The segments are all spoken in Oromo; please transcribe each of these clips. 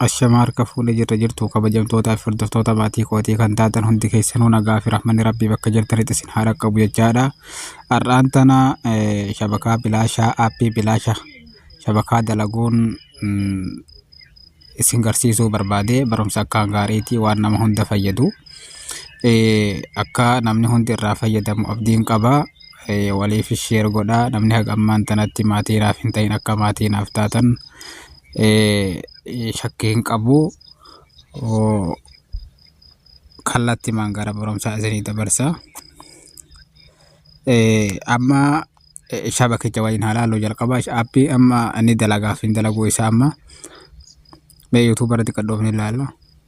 Ashamaa harka fuudhe jirra jirtuu kabajamtootaa fi hordoftoota maatii kootii kan taatan hundi keessanuu nagaa fi rahmanni rabbii bakka jirtanitti isin haa dhaqqabu jechaadha. Har'aan tana eh, shabakaa bilaashaa aappii bilaasha shabakaa dalaguun mm, isin garsiisuu barbaade barumsa akkaan gaariitii waan nama hunda fayyadu. Eh, akka namni hundi irraa fayyadamu abdiin qaba. Eh, waliif sheer godhaa namni haga ammaan tanatti maatii naaf hin ta'in akka maatii naaf taatan shakkii hin qabu kallattimaan gara barumsaa isinii dabarsa. Amma shabakicha waliin haa laallu jalqaba appii amma inni dalagaaf hin dalaguu isaa amma mee yuutuubarratti qaddoofnee ilaalla.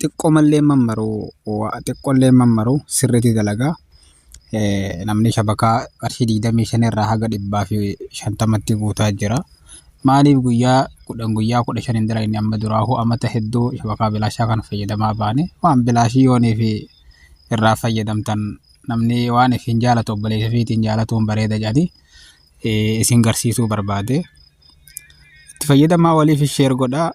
xiqqoomallee mammaruu xiqqoollee mammaruu sirriitti dalagaa namni shabakaa qarshii digdamii shan irraa haga dhibbaa fi shantamatti guutaa jira. Maaliif guyyaa kudhan guyyaa kudha shan hin dalagne amma duraahuu amata hedduu shabakaa bilaashaa kana fayyadamaa baane waan bilaashii yoonii fi irraa fayyadamtan namni waan ifiin jaalatu obboleessa fiitiin jaalatuun bareeda jedhanii isin garsiisuu barbaade. Itti fayyadamaa waliif sheer godhaa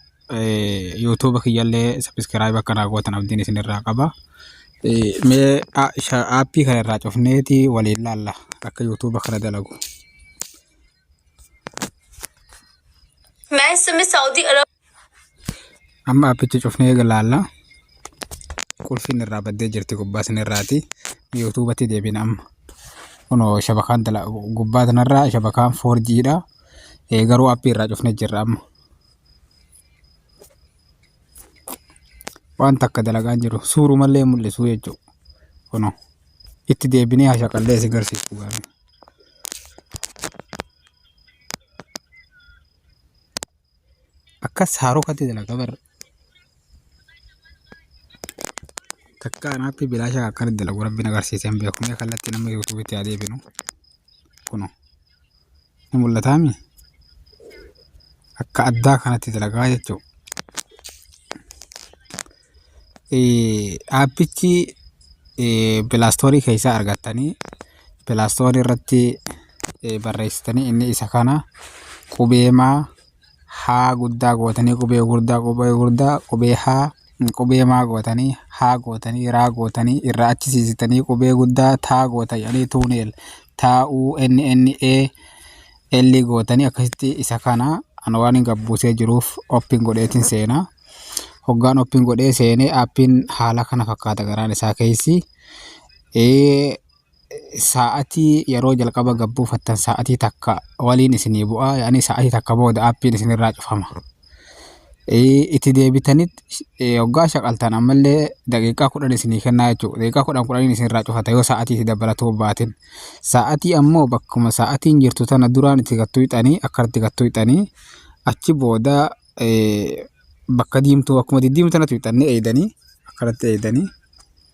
YouTube kiyyallee subscribe akka naa gootan abdiin isin irraa qaba. Mee aappii kana irraa cufneeti waliin laalla akka YouTube kana dalagu. Maasimi Saawudii Arab. Amma aappichi cufnee laalla. Qulfiin irraa baddee jirti gubbaa isin irraati. YouTube'tti deebiin amma. Kunoo shabakaan gubbaa kanarraa shabakaan 4G dha. Garuu aappii irraa cufnee jirra amma. waan takka dalagaa hin jiru suurumallee hin mul'isu jechuudha. Kunoo itti deebinee hashaqallee isin garsiisu gaafii. Akkas haarokatti dalaga bar takka anaatti bilaashaa akkanatti dalagu rabbiin agarsiisee hin beeku mee kallattii nama yuutuubitti haa deebinu kunoo. ni mul'ataami. Akka addaa kanatti dalagaa jechuudha. Aappichi pilaastoorii keessaa argattanii pilaastoorii irratti barreessitanii inni isa kana qubee "ma" H guddaa gootanii qubee gurdaa qubee gurdaa qubee H qubee maa gootanii H gootanii raa gootanii irraa achi siisitanii qubee guddaa taa goota jedhanii tuuneel taa u n n a l gootanii akkasitti isa kana ana waan hin gabbuusee jiruuf oppiin godheetiin seenaa. Hoggaan oppiin godhee seenee appiin haala kana fakkaata garaan isaa keessi. Sa'atii yeroo jalqaba gad buufattan sa'atii takka waliin isinii bu'a yaani sa'atii takka booda appiin isinirraa cufama. Itti deebitaniit hoggaa shaqaltan ammallee daqiiqaa kudhan isinii kennaa jechuudha. Daqiiqaa kudhan kudhaniin isinirraa cufata yoo sa'atii itti dabalatu hin baatin. Sa'atii ammoo bakkuma sa'atiin jirtu tana duraan itti gad tuqxanii akka itti gad tuqxanii achi booda bakka diimtuu akkuma diddiimtuu tana tuqxanii eeydanii akkanatti eeydanii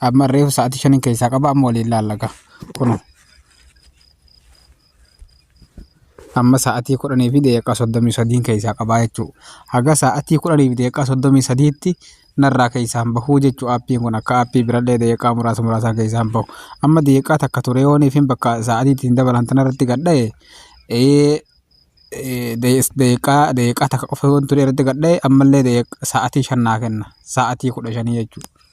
Amma reefu sa'aatii shaniin keessaa qaba amma waliin laallaga. Kun amma sa'aatii kudhanii fi daqiiqaa soddomii sadiin keessaa qabaa jechuudha. Haga sa'aatii kudhanii fi daqiiqaa soddomii sadiitti narraa keessaan bahuu jechuudha. Aappiin kun akka aappii birallee daqiiqaa muraasa muraasaan keessaan bahu. Amma daqiiqaa takka ture yoonii fi bakka sa'aatii ittiin dabalan tanarratti gadha'e daqiiqaa daqiiqaa takka qofa yoon ture irratti gadha'e ammallee sa'aatii shan naa kenna. Sa'aatii kudha shanii jechuudha.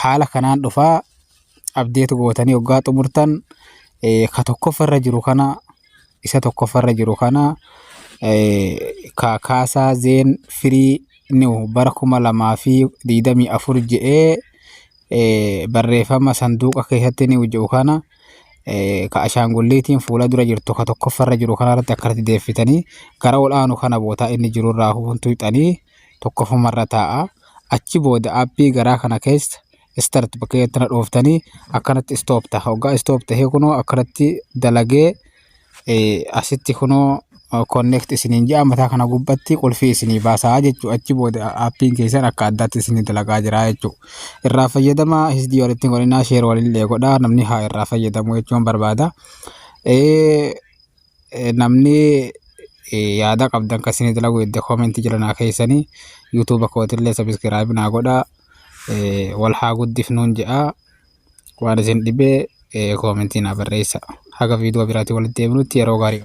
haala kanaan dhufaa update gootanii oggaa xumurtan ka tokkoffa irra jiru kana isa tokkoffa irra jiru kana ka kaasaa zeen firii niw bara kuma lamaa fi digdamii afur je'ee barreeffama sanduuqa keessatti niw je'u kana ka ashaangulliitiin fuula dura jirtu ka tokkoffa irra jiru kana irratti akkanatti deeffitanii gara ol aanu kana bootaa inni jiru irraa huntuuxanii tokkofuma irra taa'a achi booda appii garaa kana keessa start bakka jettana dhooftanii akkanatti stop ta'a hoggaa stop ta'ee kunoo akkanatti dalagee asitti kunoo connect isiniin ja'a mataa kana gubbatti qulfii isinii baasaa jechuu achi booda appiin keessan akka addaatti isinii dalagaa jira jechuu irraa fayyadama hisdii walitti godhinaa sheer walillee godhaa namni haa irraa fayyadamu jechuun barbaada. Namni yaada qabdan akka isinii dalagu hedda comment jala naa keessani YouTube kootillee subscribe naa godha wal haa guddifnuun jedha waan isin dhibee comment naa barreessa haga viidiyoo biraatii walitti deebinutti yeroo gaarii